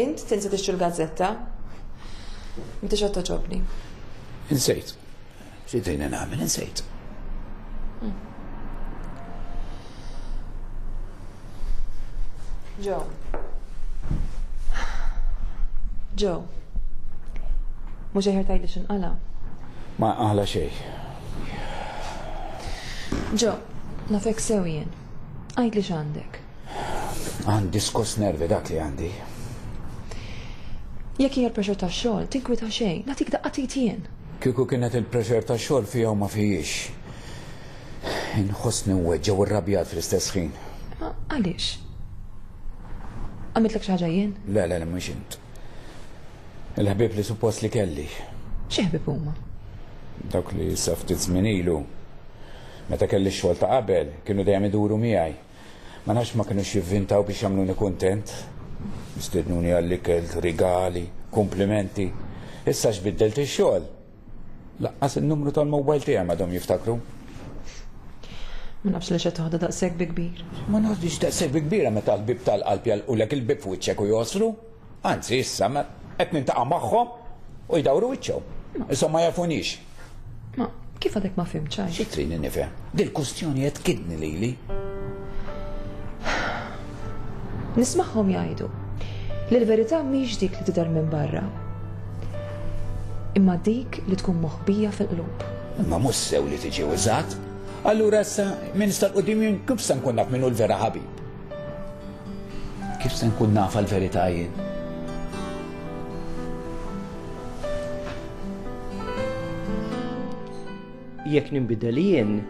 Int tinsa tixtru l-gazzetta? Inti xatta ċobni. Insejt. Xidrina nagħmel, insejt. Ġo. Ġo. Mhux eħer tajli x'inqala. Ma għala xej. Ġo, nafek sew jien. Għid li x'għandek. Għan diskos nervi dak li għandi. Jekk hija l-pressure ta' xogħol, tinkwita xejn, nagħtik daqqa titjien. Kieku kienet il-pressure ta' xogħol fija u ma fijiex. Inħossni weġġa u rrabjat fl-istess ħin. Għaliex? Għamitlek xi ħaġa jien? Le, le, le, mhux int. Il-ħbib li suppost li kelli. Xi ħbib huma? Dawk li saftit żmien ilu. Meta kelli x-xogħol ta' qabel, kienu dejjem iduru miegħi. Ma nafx ma kinux jivvintaw biex jagħmluni kuntent. Stednuni għall-ikel, rigali, kumplimenti. Issa x'biddelt ix-xogħol. Laqqas in-numru tal-mowbajl tiegħi m'għadhom jiftakru. Ma nafx li qed toħda daqshekk bi kbir. Ma noħdix daqshekk bi kbira meta l-bieb tal-qalb jagħlqulek il-bieb f'wiċċek u jgħossru. Anzi, issa qed nintaqa' magħhom u jdawru wiċċhom. Insomma ma jafunix. Ma kif għadek ma fim ċaj? Xi trini nifhem? Dil-kustjoni qed kidni lili. Nismagħhom jgħidu li l-verità mhix dik li tidher minn barra. Imma dik li tkun moħbija fil-qlub. Imma mhux sew li tiġi użat. Allura issa minn sta l-qudiem jien kif se nkun naf minnu l-vera ħabib. Kif se nkun naf għall-verità jien? Jekk ninbidel jien,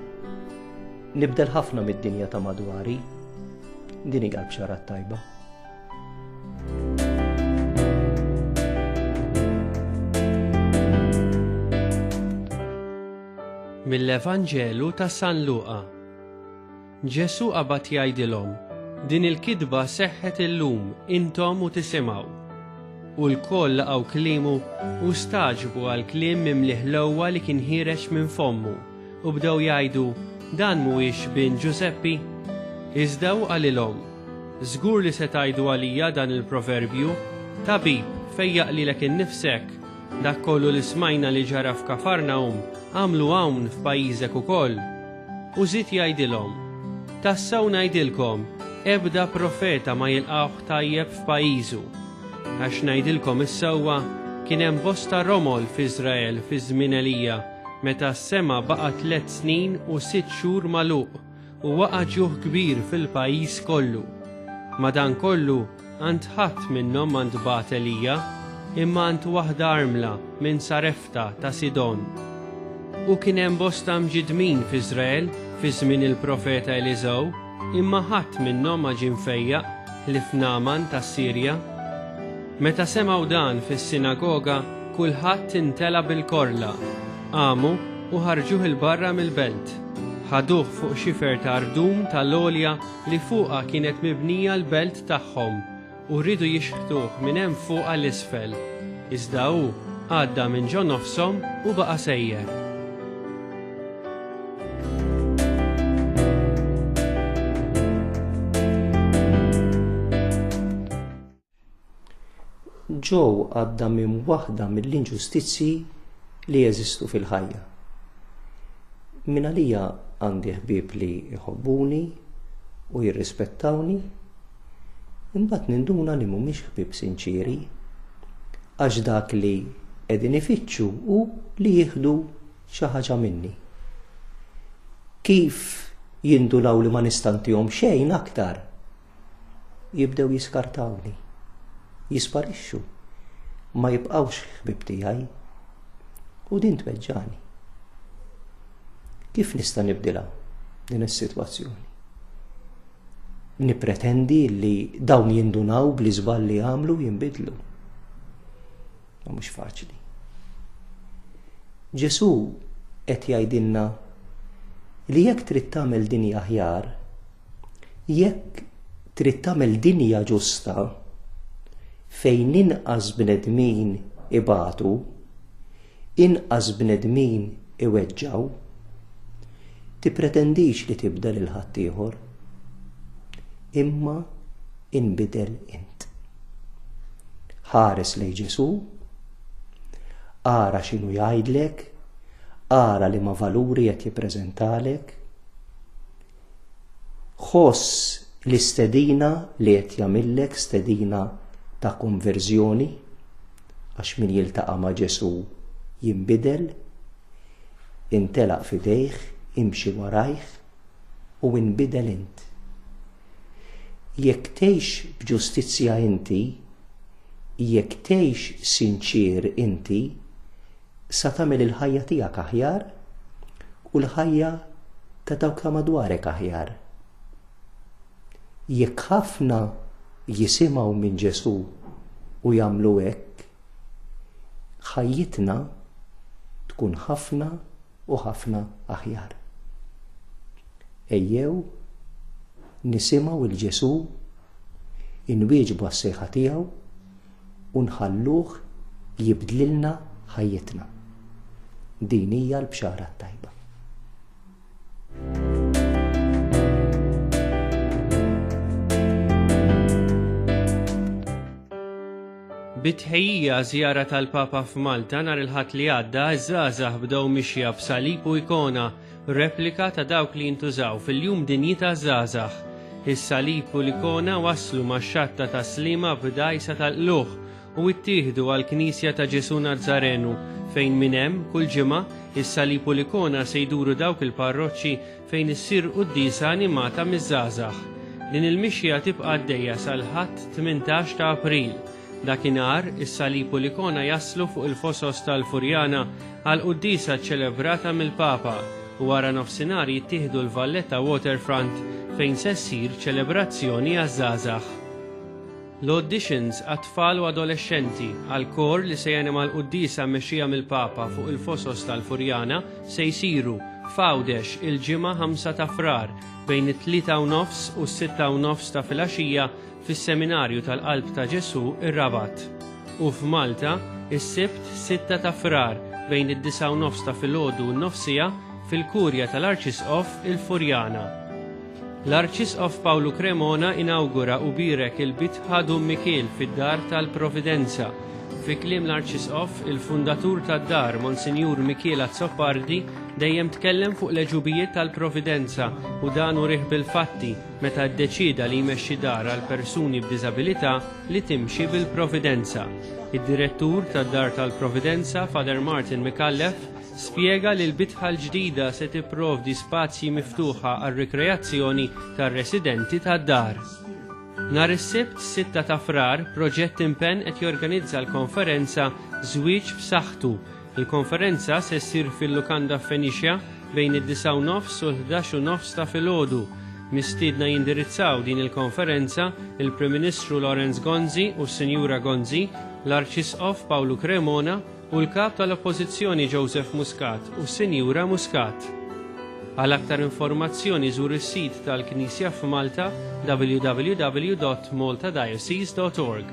nibdel ħafna mid-dinja ta' madwari. Din hi l-bxara tajba. mill-Evanġelu ta' San Luqa. Ġesù qabad jgħidilhom, Din il-kitba seħħet illum, intom u tisimgħu. U lkoll laqgħu kliemu, u stagħġbu għall-kliem mimli ħlewwa li kien ħiereġ minn fommu, u bdew jgħidu, Dan m'huwiex bin Ġużeppi? Iżda hu qalilhom, Żgur li se tgħidu għalija dan il-proverbju, Tabib, fejjaq lilek innifsek! Dak kollu li smajna li ġara f'Kafarnahum, agħmlu hawn f'pajjiżek ukoll. U żied jgħidilhom, Tassew ngħidilkom, ebda profeta ma jilqgħuh tajjeb f'pajjiżu. Għax ngħidilkom is-sewwa, kien hemm bosta romol f'Iżrael fi żmien Elija, meta s-sema baqa' tliet snin u sitt xhur magħluq, u waqa' ġuħ kbir fil-pajjiż kollu. Madankollu, Ant ħadd minnhom ma ntbagħat għelija, imma ant waħda armla minn Sarefta ta' Sidon. U kien hemm bosta mġiddmin f'Iżrael fi żmien il-profeta Eliżew, imma ħadd minnhom ma ġie mfejjaq, ħlief Nagħman tas-Sirja. Meta semgħu dan fis-sinagoga, kulħadd intela' bil-korla, qamu u ħarġuh 'il barra mill-belt. Ħaduh fuq xifer ta' rdum tal-għolja li fuqha kienet mibnija l-belt tagħhom u riedu jixħtuh minn hemm fuq għal isfel, iżda hu għadda minn ġo nofshom u baqa' sejjer. Joe għadda minn waħda mill-inġustizzji li jeżistu fil-ħajja. Minn għalija għandi ħbieb li jħobbuni u jirrispettawni, imbagħad ninduna li mhumiex ħbieb sinċieri, għax dak li qegħdin ifittxu hu li jieħdu xi ħaġa minni. Kif jindunaw li ma nistantihom xejn aktar? jibdew jiskartawni, jisparixxu, ma jibqgħux ħbib tiegħi. U din tweġġani. Kif nista' nibdilha din is-sitwazzjoni? Nipretendi li dawn jindunaw bli żball li għamlu jinbidlu. Ma mhux faċli. Ġesu qed jgħidilna li jekk trid tagħmel dinja aħjar, Jekk trid tagħmel dinja ġusta fejn inqas bnedmin ibatu, inqas bnedmin iweġġgħu, tippretendix li tibda lil ħaddieħor, imma inbidel int. Ħares lejn Ġesù, ara x'inhu jgħidlek, ara li ma valuri qed jippreżentalek, Ħoss l-istedina li qed jagħmillek stedina ta' konverżjoni għax min jiltaqa' ma' Ġesù jinbidel, intelaq f'idejh, imxi warajh u inbidel int. Jekk tgħix b'ġustizzja inti, jekk tgħix sinċier inti, Sa tagħmel il-ħajja tiegħek aħjar u l-ħajja ta' dawk ta' madwarek aħjar. Jekk ħafna jisimgħu minn Ġesù u jagħmlu hekk, ħajjitna tkun ħafna u ħafna aħjar. Ejjew nisimgħu il Ġesù inwieġbu għas-sejħa tiegħu u nħalluh jibdlilna ħajjitna. Din hija l-bxara t-tajba. Bitħejja żjara tal-Papa f'Malta nhar il-Ħadd li għadda, iż-żgħażagħ bdew mixja b'salib u ikona Replika ta' dawk li jintużaw fil-Jum Dinji taż-Żgħażagħ. Is-salib u l-ikona waslu max-Xatta tas-Sliema b'dgħajsa tal-qlugħ u ttieħdu għall-Knisja ta' Ġesù Nazzarenu fejn minn hemm, kull ġimgħa, is-salib u l-ikona se jduru dawk il-parroċċi fejn issir quddiesa animata miż-żgħażagħ. Din il-mixja tibqa' għaddejja sal-Ħadd 18 ta' April. Dakinhar, is-salib u l-ikona jaslu fuq il-fosos tal-Furjana għall-quddiesa ċċelebrata mill-Papa u wara nofsinhar jittieħdu l-Valletta Waterfront fejn se ssir ċelebrazzjoni għaż-żgħażagħ. L-auditions għat-tfal u adolexxenti għall-kor li se janima l-quddiesa mmexxija mill-Papa fuq il-fosos tal-Furjana se jsiru f'Għawdex il-Ġimgħa 5 ta' Frar bejn it-tlieta u nofs u s-sitta u nofs ta' filgħaxija fis-Seminarju tal-Qalb ta' Ġesù r-Rabat, u f'Malta s-Sibt 6 ta' Frar bejn id-disgħa u nofs ta' filgħodu u n-nofsija fil-Kurja tal-Arċisqof il-Furjana. L-Arċisqof Pawlu Cremona inawgura u bierek il-Bitħa Dun Mikiel fid-Dar tal-Providenza. Fi kliem l-Arċisqof, il-fundatur tad-dar, Monsinjur Mikiel Azzopardi, dejjem tkellem fuq l-għeġubijiet tal-Providenza u dan urieh bil-fatti, meta ddeċieda li jmexxi dar għal persuni b'diżabilità li timxi bil-Providenza. Id-Direttur tad-Dar tal-Providenza, Father Martin Micallef, spjega li l-bitħa l-ġdida se tipprovdi spazji miftuħa għar-rikreazzjoni tar-residenti tad-dar. Nhar is-Sibt, 6 ta' Frar, Proġett Impenn qed jorganizza l-konferenza Żwieġ f'Saħħtu, Il-konferenza se ssir fil-lukanda Fenicia bejn id-disgħa u nofs u l-ħdax u nofs ta' filgħodu. Mistiedna jindirizzaw din il-konferenza il-Prim Ministru Lawrence Gonzi u s-Sinjura Gonzi, l-Arċisqof Pawlu Cremona u l-Kap tal-Oppożizzjoni Joseph Muscat u s-Sinjura Muscat. Għal aktar informazzjoni żur is-sit tal-Knisja f'Malta www.maltadiocese.org.